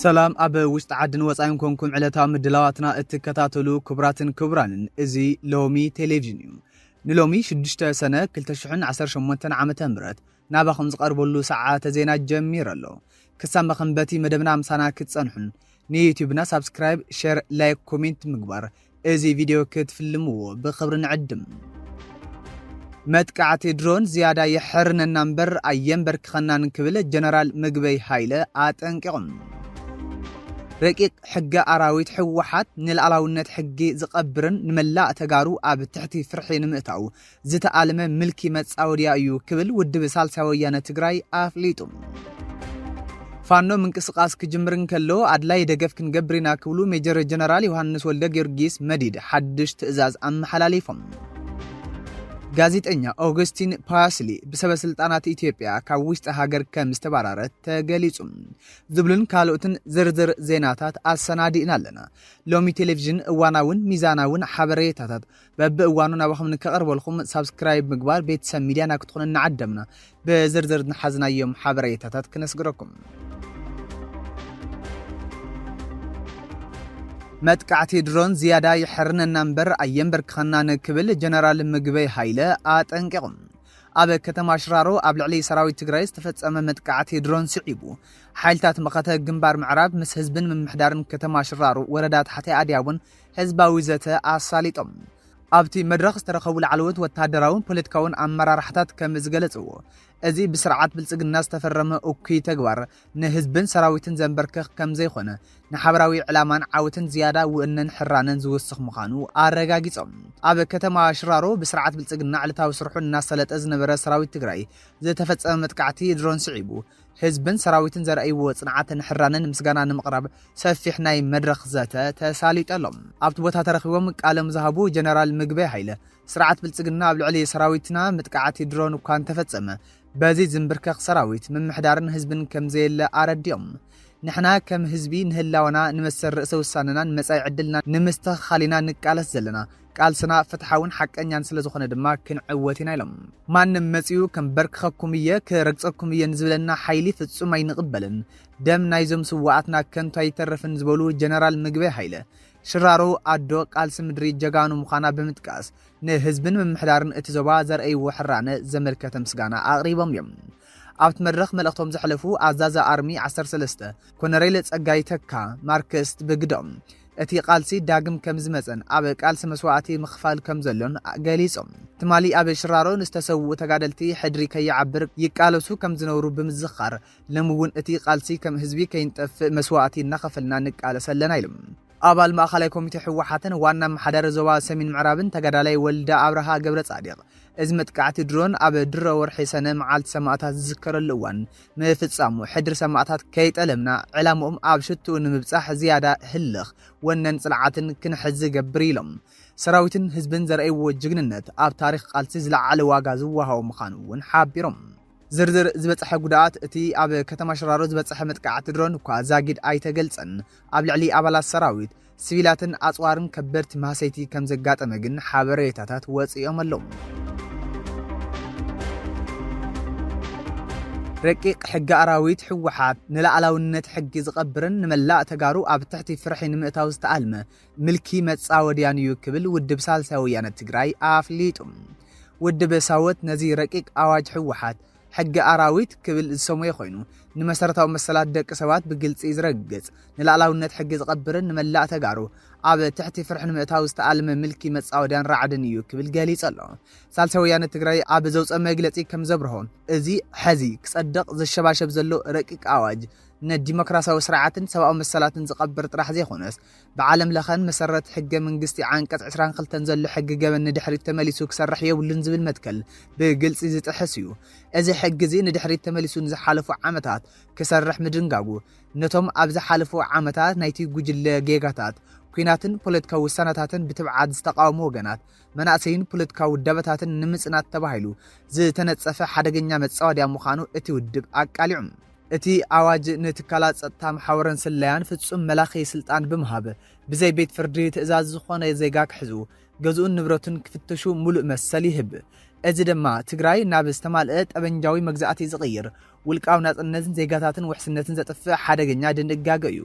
ሰላም ኣብ ውሽጢ ዓድን ወፃኢን ኮንኩም ዕለታዊ ምድላዋትና እትከታተሉ ክቡራትን ክቡራንን እዚ ሎሚ ቴሌቭዥን እዩ ንሎሚ 6 ሰነ 218 ዓ ም ናባኹም ዝቐርበሉ ሰዓተ ዜና ጀሚሩ ኣሎ። ክሳብ መኸንበቲ መደብና ምሳና ክትጸንሑን ንዩትዩብና ሳብስክራይብ፣ ሼር፣ ላይክ፣ ኮሜንት ምግባር እዚ ቪድዮ ክትፍልምዎ ብኽብሪ ንዕድም። መጥቃዕቲ ድሮን ዝያዳ የሕርነና እምበር ኣየንበርክኸናን ክብል ጀነራል ምግበይ ሃይለ ኣጠንቂቑም። ረቂቕ ሕገ ኣራዊት ሕወሓት ንልኣላውነት ሕጊ ዝቐብርን ንመላእ ተጋሩ ኣብ ትሕቲ ፍርሒ ንምእታው ዝተኣልመ ምልኪ መጻወድያ እዩ ክብል ውድብ ሳልሳይ ወያነ ትግራይ ኣፍሊጡ። ፋኖ ምንቅስቓስ ክጅምር እንከሎ ኣድላይ ደገፍ ክንገብር ኢና ክብሉ ሜጀር ጀነራል ዮሃንስ ወልደ ጊዮርጊስ መዲድ ሓድሽ ትእዛዝ ኣመሓላሊፎም። ጋዜጠኛ ኦገስቲን ፓስሊ ብሰበስልጣናት ኢትዮጵያ ካብ ውሽጢ ሃገር ከም ዝተባረረ ተገሊጹ ዝብሉን ካልኦትን ዝርዝር ዜናታት ኣሰናዲእና ኣለና። ሎሚ ቴሌቪዥን እዋናውን ሚዛናውን ሓበሬታታት በቢ እዋኑ ናባኹም ንከቐርበልኩም ሳብስክራይብ ምግባር ቤተሰብ ሚድያና ክትኾኑ እናዓደምና ብዝርዝር ንሓዝናዮም ሓበሬታታት ክነስግረኩም። መጥቃዕቲ ድሮን ዝያዳ የሐርነና እምበር ኣየንበርክኸናን ክብል ጀነራል ምግበይ ሃይለ ኣጠንቂቑ። ኣብ ከተማ ሽራሮ ኣብ ልዕሊ ሰራዊት ትግራይ ዝተፈጸመ መጥቃዕቲ ድሮን ስዒቡ ሓይልታት መኸተ ግንባር ምዕራብ ምስ ህዝብን ምምሕዳርን ከተማ ሽራሮ ወረዳ ታሕታይ ኣድያቦን ህዝባዊ ዘተ ኣሳሊጦም። ኣብቲ መድረኽ ዝተረኸቡ ላዕለዎት ወተሃደራውን ፖለቲካውን ኣመራርሓታት ከም ዝገለፅዎ፣ እዚ ብስርዓት ብልፅግና ዝተፈረመ እኩይ ተግባር ንህዝብን ሰራዊትን ዘንበርክኽ ከም ዘይኮነ፣ ንሓበራዊ ዕላማን ዓወትን ዝያዳ ውእነን ሕራነን ዝውስኽ ምዃኑ ኣረጋጊፆም። ኣብ ከተማ ሽራሮ ብስርዓት ብልፅግና ዕለታዊ ስርሑ እናሳለጠ ዝነበረ ሰራዊት ትግራይ ዝተፈፀመ መጥቃዕቲ ድሮን ስዒቡ፣ ህዝብን ሰራዊትን ዘርእይዎ ጽንዓትን ሕራነን ምስጋና ንምቕራብ ሰፊሕ ናይ መድረኽ ዘተ ተሳሊጡ ኣሎ። ኣብቲ ቦታ ተረኺቦም ቃሎም ዝሃቡ ጀነራል ምግበይ ሃይለ፣ ስርዓት ብልጽግና ኣብ ልዕሊ ሰራዊትና ምጥቃዓት ድሮን እኳ እንተፈጸመ፣ በዚ ዝምብርከኽ ሰራዊት፣ ምምሕዳርን ህዝብን ከምዘየለ ኣረዲኦም። ንሕና ከም ህዝቢ ንህላወና፣ ንመሰል ርእሰ ውሳነናን መጻኢ ዕድልናን ንምስትኽኻል ኢና ንቃለስ ዘለና። ቃልስና ፍትሓውን ሓቀኛን ስለ ዝኾነ ድማ ክንዕወት ኢና ኢሎም። ማንም መጺኡ ከምበርክኸኩም እየ ክረግጸኩም እየ ንዝብለና ሓይሊ ፍጹም ኣይንቕበልን፣ ደም ናይዞም ስዋኣትና ከንቱ ኣይተርፍን ዝበሉ ጀነራል ምግበይ ሃይለ፣ ሽራሮ ኣዶ ቃልሲ ምድሪ ጀጋኑ ምዃና ብምጥቃስ ንህዝብን ምምሕዳርን እቲ ዞባ ዘርእይዎ ሕራነ ዘመልከተ ምስጋና ኣቕሪቦም እዮም። ኣብቲ መድረኽ መልእኽቶም ዘሕለፉ ኣዛዚ ኣርሚ ዓሰርተ ሰለስተ ኮነሬል ጸጋይ ተካ ማርክስት ብግደኦም፣ እቲ ቃልሲ ዳግም ከምዝመጸን ኣብ ቃልሲ መስዋእቲ ምኽፋል ከምዘሎን ገሊጾም። ትማሊ ኣብ ሽራሮ ንዝተሰውኡ ተጋደልቲ ሕድሪ ከይዓብር ይቃለሱ ከምዝነብሩ ብምዝኻር፣ ሎሚ'ውን እቲ ቃልሲ ከም ህዝቢ ከይንጠፍእ መስዋእቲ እናኸፈልና ንቃለስ ኣለና ኢሎም። ኣባል ማእኸላይ ኮሚቴ ህወሓትን ዋና ኣመሓዳሪ ዞባ ሰሜን ምዕራብን ተጋዳላይ ወልደ ኣብርሃ ገብረፃዲቕ፣ እዚ መጥቃዕቲ ድሮን ኣብ ድሮ ወርሒ ሰነ መዓልቲ ሰማእታት ዝዝከረሉ እዋን ምፍፃሙ፣ ሕድሪ ሰማእታት ከይጠለምና ዕላምኦም ኣብ ሽትኡ ንምብፃሕ ዝያዳ ህልኽ፣ ወነን ፅንዓትን ክንሕዝ ዝገብር እዩ ኢሎም። ሰራዊትን ህዝብን ዘርኣይዎ ጅግንነት ኣብ ታሪኽ ቃልሲ ዝለዓለ ዋጋ ዝወሃቦ ምዃኑ እውን ሓቢሮም። ዝርዝር ዝበጽሐ ጉድኣት እቲ ኣብ ከተማ ሽራሮ ዝበጽሐ መጥቃዕቲ ድሮን እኳ ዛጊድ ኣይተገልጸን። ኣብ ልዕሊ ኣባላት ሰራዊት፣ ሲቪላትን ኣጽዋርን ከበድቲ ማህሰይቲ ከም ዘጋጠመ ግን ሓበሬታታት ወጺኦም ኣለዉ። ረቂቕ ሕጊ ኣራዊት ህወሓት ንላዕላውነት ሕጊ ዝቐብርን ንመላእ ተጋሩ ኣብ ትሕቲ ፍርሒ ንምእታው ዝተኣልመ ምልኪ መጻወድያን እዩ ክብል ውድብ ሳልሳይ ወያነ ትግራይ ኣፍሊጡ። ውድብ ሳወት ነዚ ረቂቅ ኣዋጅ ህወሓት ሕጊ ኣራዊት ክብል ዝሰመዮ ኮይኑ ንመሰረታዊ መሰላት ደቂ ሰባት ብግልፂ ዝረግፅ ንላዕላውነት ሕጊ ዝቐብርን ንመላእ ተጋሩ ኣብ ትሕቲ ፍርሒ ንምእታው ዝተኣልመ ምልኪ መፃወድያን ራዕድን እዩ ክብል ገሊፁ ኣሎ። ሳልሳይ ወያነ ትግራይ ኣብ ዘውፀ መግለፂ ከም ዘብርሆ እዚ ሐዚ ክፀድቕ ዘሸባሸብ ዘሎ ረቂቅ ኣዋጅ ንዲሞክራሲያዊ ስርዓትን ሰብኣዊ መሰላትን ዝቐብር ጥራሕ ዘይኮነስ ብዓለም ለኸን መሰረት ሕገ መንግስቲ ዓንቀፅ ዕስራን ክልተን ዘሎ ሕጊ ገበን ንድሕሪት ተመሊሱ ክሰርሕ የብሉን ዝብል መትከል ብግልፂ ዝጥሕስ እዩ። እዚ ሕጊ እዚ ንድሕሪት ተመሊሱ ንዝሓለፉ ዓመታት ክሰርሕ ምድንጋጉ ነቶም ኣብ ዝሓለፉ ዓመታት ናይቲ ጉጅለ ጌጋታት ኲናትን ፖለቲካዊ ውሳነታትን ብትብዓት ዝተቓወሙ ወገናት መናእሰይን ፖለቲካዊ ውዳበታትን ንምፅናት ተባሂሉ ዝተነፀፈ ሓደገኛ መፃወድያ ምዃኑ እቲ ውድብ ኣቃሊዑ። እቲ ኣዋጅ ንትካላት ጸጥታ መሓውርን ስለያን ፍጹም መላኺ ስልጣን ብምሃብ፣ ብዘይ ቤት ፍርዲ ትእዛዝ ዝኾነ ዜጋ ክሕዙ፣ ገዝኡን ንብረቱን ክፍትሹ ሙሉእ መሰል ይህብ። እዚ ድማ ትግራይ ናብ ዝተማልኣ ጠበንጃዊ መግዛእቲ ዝቕይር፣ ውልቃዊ ናጽነትን ዜጋታትን ውሕስነትን ዘጥፍእ ሓደገኛ ድንጋገ እዩ።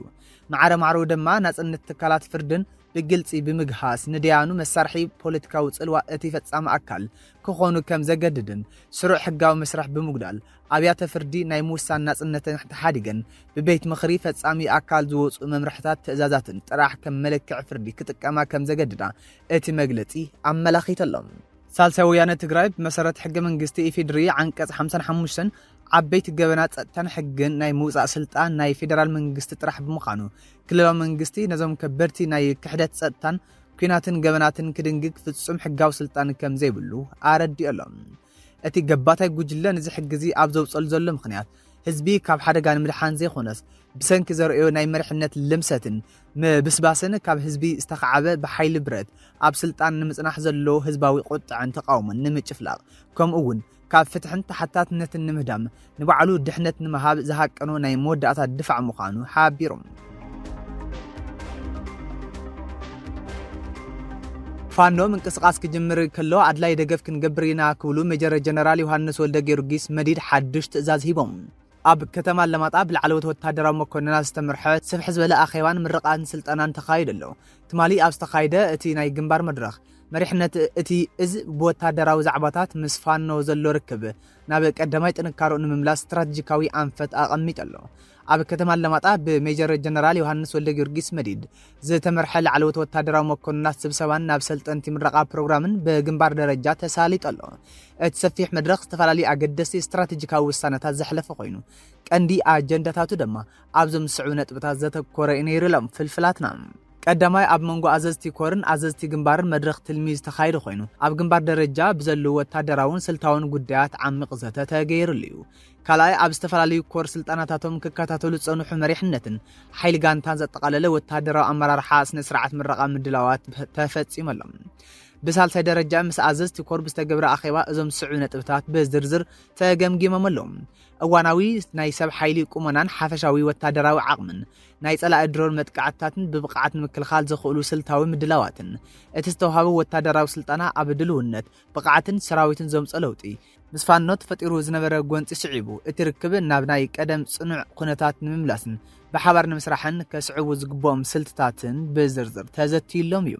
ማዕረ ማዕረኡ ድማ ናጽነት ትካላት ፍርድን ብግልጺ ብምግሃስ ንደያኑ መሳርሒ ፖለቲካዊ ጽልዋ እቲ ፈጻሚ ኣካል ክኾኑ ከም ዘገድድን ስሩዕ ሕጋዊ መስርሕ ብምጉዳል ኣብያተ ፍርዲ ናይ ምውሳን ናጽነተን ተሓዲገን ብቤት ምኽሪ ፈጻሚ ኣካል ዝወጽኡ መምርሕታት ትእዛዛትን ጥራሕ ከም መለክዒ ፍርዲ ክጥቀማ ከም ዘገድዳ እቲ መግለጺ ኣመላኺቱ ኣሎ። ሳልሳይ ወያነ ትግራይ ብመሰረት ሕገ መንግስቲ ኢፌዴሪ ዓንቀጽ ሓምሳን ሓሙሽተን ዓበይቲ ገበናት ጸጥታን ሕግን ናይ ምውጻእ ስልጣን ናይ ፌዴራል መንግስቲ ጥራሕ ብምዃኑ ክልላዊ መንግስቲ ነዞም ከበድቲ ናይ ክሕደት ጸጥታን ኲናትን ገበናትን ክድንግግ ፍጹም ሕጋዊ ስልጣን ከም ዘይብሉ ኣረዲኡ ኣሎ። እቲ ገባታይ ጉጅለ ንዚ ሕጊዚ ኣብ ዘውፀሉ ዘሎ ምኽንያት ህዝቢ ካብ ሓደጋ ንምድሓን ዘይኾነስ ብሰንኪ ዘርእዮ ናይ መሪሕነት ልምሰትን ምብስባስን ካብ ህዝቢ ዝተኻዓበ ብሓይሊ ብረት ኣብ ስልጣን ንምፅናሕ ዘለዎ ህዝባዊ ቁጥዐን ተቓውሞን ንምጭፍላቕ ከምኡ እውን ካብ ፍትሕን ተሓታትነትን ንምህዳም ንባዕሉ ድሕነት ንምሃብ ዝሃቀኖ ናይ መወዳእታ ድፋዕ ምዃኑ ሓቢሮም። ፋኖ ምንቅስቓስ ክጅምር ከሎ ኣድላይ ደገፍ ክንገብር ኢና ክብሉ ሜጀር ጀነራል ዮሃንስ ወልደጊዮርጊስ መዲድ ሓድሽ ትእዛዝ ሂቦም። ኣብ ከተማ ኣለማጣ ብላዕለዎት ወታደራዊ መኮንናት ዝተመርሐ ስፍሕ ዝበለ ኣኼባን ምርቓን ስልጠናን ተኻይዱ ኣሎ። ትማሊ ኣብ ዝተኻይደ እቲ ናይ ግንባር መድረኽ፣ መሪሕነት እቲ እዝ ብወታደራዊ ዛዕባታት ምስ ፋኖ ዘሎ ርክብ፣ ናብ ቀዳማይ ጥንካረኡ ንምምላስ ስትራቴጂካዊ ኣንፈት ኣቐሚጡ ኣሎ። ኣብ ከተማ ኣለማጣ ብሜጀር ጀነራል ዮሃንስ ወልደጊዮርጊስ መዲድ ዝተመርሐ ላዕለዎት ወታደራዊ መኮንናት ስብሰባን ናብ ሰልጠንቲ ምረቓ ፕሮግራምን ብግንባር ደረጃ ተሳሊጡ ኣሎ። እቲ ሰፊሕ መድረኽ ዝተፈላለዩ ኣገደስቲ ስትራቴጂካዊ ውሳነታት ዘሕለፈ ኮይኑ ቀንዲ ኣጀንዳታቱ ድማ ኣብዞም ዝስዕቡ ነጥብታት ዘተኮረ እዩ ነይሩ ኢሎም ፍልፍላትና። ቀዳማይ ኣብ መንጎ ኣዘዝቲ ኮርን ኣዘዝቲ ግንባርን መድረኽ ትልሚ ዝተኻየደ ኮይኑ ኣብ ግንባር ደረጃ ብዘለዉ ወታደራውን ስልታውን ጉዳያት ዓሚቕ ዘተ ተገይርሉ እዩ። ካልኣይ ኣብ ዝተፈላለዩ ኮር ስልጠናታቶም ክከታተሉ ዝፀንሑ መሪሕነትን ሓይሊ ጋንታን ዘጠቓለለ ወታደራዊ ኣመራርሓ ስነ ስርዓት ምረቓ ምድላዋት ተፈፂመሎም። ብሳልሳይ ደረጃ ምስ ኣዘዝቲ ኮር ብዝተገብረ ኣኼባ እዞም ዝስዕቡ ነጥብታት ብዝርዝር ተገምጊሞም ኣለዉ። እዋናዊ ናይ ሰብ ሓይሊ ቁመናን ሓፈሻዊ ወታደራዊ ዓቕምን፣ ናይ ጸላኢ ድሮን መጥቃዕትታትን ብብቕዓት ንምክልኻል ዘኽእሉ ስልታዊ ምድላዋትን፣ እቲ ዝተውሃበ ወታደራዊ ስልጠና ኣብ ድልውነት፣ ብቕዓትን ሰራዊትን ዘምጽኦ ለውጢ፣ ምስ ፋኖ ተፈጢሩ ዝነበረ ጎንጺ ስዒቡ እቲ ርክብ ናብ ናይ ቀደም ጽኑዕ ኩነታት ንምምላስን ብሓባር ንምስራሕን ከስዕቡ ዝግብኦም ስልትታትን ብዝርዝር ተዘትዩሎም እዩ።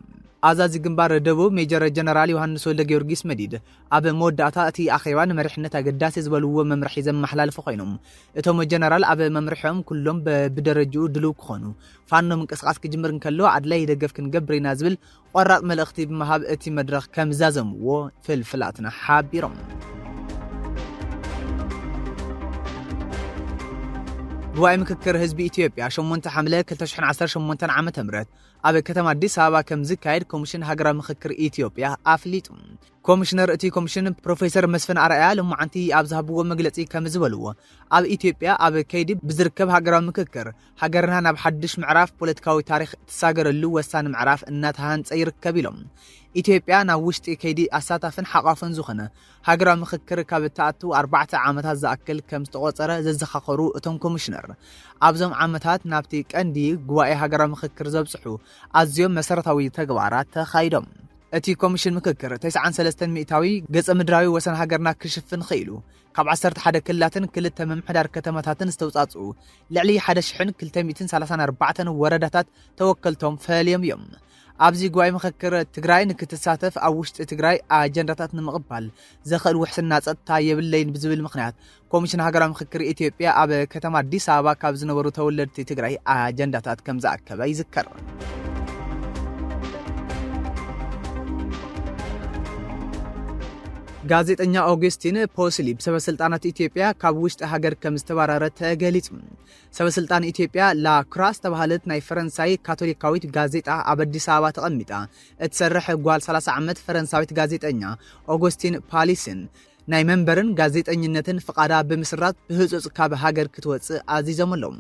ኣዛዚ ግንባር ደቡብ ሜጀር ጀነራል ዮሃንስ ወልደጊዮርጊስ መዲድ፣ ኣብ መወዳእታ እቲ ኣኼባ ንመሪሕነት ኣገዳሲ ዝበልዎ መምርሒ ዘመሓላለፉ ኮይኖም፣ እቶም ጀነራል ኣብ መምርሒኦም ኩሎም በብደረጅኡ ድሉው ክኾኑ፣ ፋኖ ምንቅስቓስ ክጅምር እንከሎ ኣድላዪ ደገፍ ክንገብር ኢና ዝብል ቆራፅ መልእኽቲ ብምሃብ እቲ መድረኽ ከምዛዘምዎ ፍልፍላትና ሓቢሮም። ጉባኤ ምክክር ህዝቢ ኢትዮጵያ ሸሞንተ ሓምለ ክልተ ሽሕን ዓሰርተ ሸሞንተን ዓመተ ምህረት ኣብ ከተማ ኣዲስ ኣበባ ከምዝካየድ ኮሚሽን ሃገራዊ ምክክር ኢትዮጵያ ኣፍሊጡ። ኮሚሽነር እቲ ኮሚሽን ፕሮፌሰር መስፍን ኣርኣያ ሎማዓንቲ ኣብ ዝሃብዎ መግለፂ ከም ዝበልዎ ኣብ ኢትዮጵያ ኣብ ከይዲ ብዝርከብ ሃገራዊ ምክክር ሃገርና ናብ ሓድሽ ምዕራፍ ፖለቲካዊ ታሪክ ትሳገረሉ ወሳኒ ምዕራፍ እናተሃንፀ ይርከብ ኢሎም። ኢትዮጵያ ናብ ውሽጢ ከይዲ ኣሳታፍን ሓቋፍን ዝኾነ ሃገራዊ ምክክር ካብ እትኣቱ ኣርባዕተ ዓመታት ዝኣክል ከም ዝተቖፀረ ዘዘኻኸሩ እቶም ኮሚሽነር ኣብዞም ዓመታት ናብቲ ቀንዲ ጉባኤ ሃገራዊ ምክክር ዘብፅሑ ኣዝዮም መሰረታዊ ተግባራት ተኻይዶም። እቲ ኮሚሽን ምክክር ተስዓን ሰለስተን ሚእታዊ ገፀ ምድራዊ ወሰን ሃገርና ክሽፍን ኽኢሉ። ካብ ዓሰርተ ሓደ ክልላትን ክልተ ምምሕዳር ከተማታትን ዝተውፃፅኡ ልዕሊ ሓደ ሽሕን ክልተ ሚእትን ሰላሳን ኣርባዕተን ወረዳታት ተወከልቶም ፈልዮም እዮም። ኣብዚ ጉባኤ ምክክር ትግራይ ንክትሳተፍ ኣብ ውሽጢ ትግራይ ኣጀንዳታት ንምቕባል ዘኽእል ውሕስና ፀጥታ የብለይን ብዝብል ምኽንያት ኮሚሽን ሃገራዊ ምክክር ኢትዮጵያ ኣብ ከተማ ኣዲስ ኣበባ ካብ ዝነበሩ ተወለድቲ ትግራይ ኣጀንዳታት ከም ዝኣከበ ይዝከር። ጋዜጠኛ ኦግስቲን ፖስሊ ብሰበስልጣናት ኢትዮጵያ ካብ ውሽጢ ሃገር ከም ዝተባረረ ተገሊጹ። ሰበስልጣን ኢትዮጵያ ላክራ ዝተባሃለት ናይ ፈረንሳይ ካቶሊካዊት ጋዜጣ ኣብ ኣዲስ ኣበባ ተቐሚጣ እትሰርሕ ጓል 30 ዓመት ፈረንሳዊት ጋዜጠኛ ኦጎስቲን ፓሊስን ናይ መንበርን ጋዜጠኝነትን ፍቓዳ ብምስራዝ ብህጹጽ ካብ ሃገር ክትወጽእ ኣዚዞም ኣለዉ።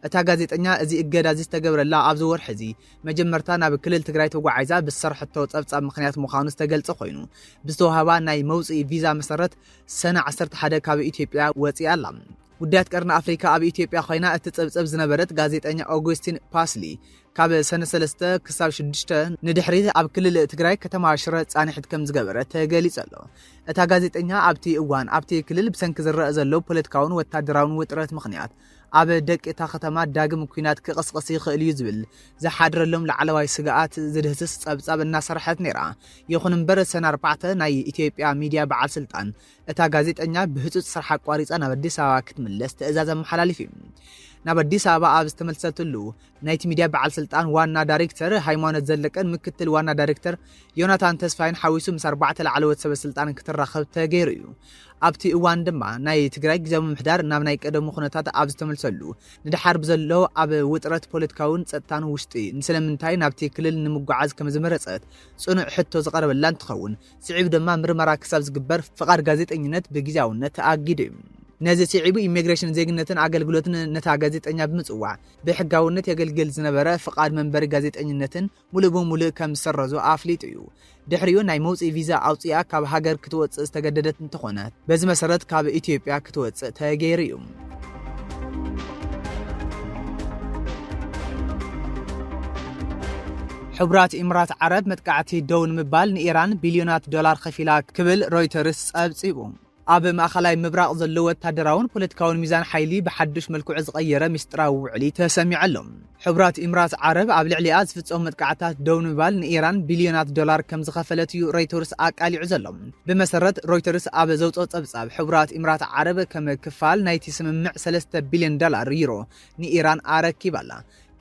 እታ ጋዜጠኛ እዚ እገዳ እዚ ዝተገብረላ ኣብዚ ወርሒ እዚ መጀመርታ ናብ ክልል ትግራይ ተጓዒዛ ብዝሰርሐቶ ጸብጻብ ምክንያት ምዃኑ ዝተገልጸ ኮይኑ ብዝተዋህባ ናይ መውጽኢ ቪዛ መሰረት ሰነ 11 ካብ ኢትዮጵያ ወጺኣ ኣላ። ጉዳያት ቀርኒ ኣፍሪካ ኣብ ኢትዮጵያ ኮይና እትጽብጽብ ዝነበረት ጋዜጠኛ ኦጉስቲን ፓስሊ ካብ ሰነ ሰለስተ ክሳብ ሽዱሽተ ንድሕሪት ኣብ ክልል ትግራይ ከተማ ሽረ ፃንሒት ከም ዝገበረ ተገሊጹ ኣሎ። እታ ጋዜጠኛ ኣብቲ እዋን ኣብቲ ክልል ብሰንኪ ዝረኣ ዘሎ ፖለቲካውን ወታደራውን ውጥረት ምኽንያት ኣብ ደቂ እታ ከተማ ዳግም ኩናት ክቕስቕስ ይኽእል እዩ ዝብል ዝሓድረሎም ላዕለዋይ ስግኣት ዝድህስስ ጸብጻብ እናሰርሐት ነይራ። ይኹን እምበር ሰነ ኣርባዕተ ናይ ኢትዮጵያ ሚድያ በዓል ስልጣን እታ ጋዜጠኛ ብህጹጽ ስራሕ ኣቋሪጻ ናብ ኣዲስ ኣበባ ክትምለስ ትእዛዝ ኣመሓላሊፉ እዩ። ናብ ኣዲስ ኣበባ ኣብ ዝተመልሰትሉ ናይቲ ሚድያ በዓል ስልጣን ዋና ዳይሬክተር ሃይማኖት ዘለቀን ምክትል ዋና ዳይሬክተር ዮናታን ተስፋይን ሓዊሱ ምስ ኣርባዕተ ላዕለዎት ሰበ ስልጣን ክትራኸብ ተገይሩ እዩ። ኣብቲ እዋን ድማ ናይ ትግራይ ግዜያዊ ምምሕዳር ናብ ናይ ቀደሙ ኩነታት ኣብ ዝተመልሰሉ ንደሓር ብዘሎ ኣብ ውጥረት ፖለቲካውን ፀጥታን ውሽጢ ንስለምንታይ ናብቲ ክልል ንምጓዓዝ ከምዝመረፀት ፅኑዕ ሕቶ ዝቐረበላ እንትኸውን ስዒቡ ድማ ምርመራ ክሳብ ዝግበር ፍቓድ ጋዜጠኝነት ብግዜያውነት ተኣጊዱ እዩ። ነዚ ስዒቡ ኢሚግሬሽንን ዜግነትን ኣገልግሎትን ነታ ጋዜጠኛ ብምፅዋዕ ብሕጋውነት የገልግል ዝነበረ ፍቓድ መንበሪ ጋዜጠኝነትን ሙሉእ ብሙሉእ ከም ዝሰረዞ ኣፍሊጡ እዩ። ድሕሪኡ ናይ መውፅኢ ቪዛ ኣውፂኣ ካብ ሃገር ክትወፅእ ዝተገደደት እንተኾነ በዚ መሰረት ካብ ኢትዮጵያ ክትወፅእ ተገይሩ እዩ። ሕቡራት ኢምራት ዓረብ መጥቃዕቲ ደው ንምባል ንኢራን ቢልዮናት ዶላር ከፊላ ክብል ሮይተርስ ፀብፂቡ። ኣብ ማእኸላይ ምብራቕ ዘሎ ወታደራውን ፖለቲካውን ሚዛን ሓይሊ ብሓዱሽ መልክዑ ዝቐየረ ሚስጥራዊ ውዕሊ ተሰሚዑ ኣሎ። ሕቡራት ኢምራት ዓረብ ኣብ ልዕሊኣ ዝፍጸሙ መጥቃዕትታት ደው ንምባል ንኢራን ቢልዮናት ዶላር ከም ዝኸፈለት እዩ ሮይቶርስ ኣቃሊዑ ዘሎ። ብመሰረት ሮይተርስ ኣብ ዘውጽኦ ጸብጻብ፣ ሕቡራት ኢምራት ዓረብ ከም ክፋል ናይቲ ስምምዕ ሰለስተ ቢልዮን ዶላር፣ ዩሮ፣ ንኢራን ኣረኪባ ኣላ።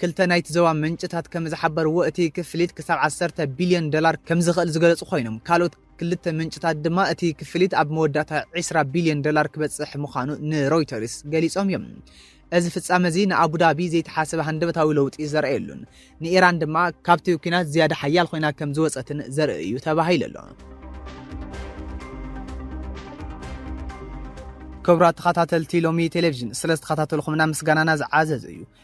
ክልተ ናይቲ ዞባ ምንጭታት ከም ዝሓበርዎ፣ እቲ ክፍሊት ክሳብ ዓሰርተ ቢልዮን ዶላር ከም ዝኽእል ዝገለጹ ኮይኖም፣ ካልኦት ክልተ ምንጭታት ድማ እቲ ክፍሊት ኣብ መወዳእታ ዕስራ ቢልዮን ዶላር ክበጽሕ ምዃኑ ንሮይተርስ ገሊጾም እዮም። እዚ ፍጻመ እዚ ንኣቡዳቢ ዘይተሓሰበ ሃንደበታዊ ለውጢ ዘርእየሉን ንኢራን ድማ ካብቲ ኲናት ዝያዳ ሓያል ኮይና ከም ዝወጸትን ዘርኢ እዩ ተባሂሉ ኣሎ። ክብራት ተኸታተልቲ ሎሚ ቴሌቪዥን ስለ ዝተኸታተልኹምና ምስጋናና ዝዓዘዘ እዩ።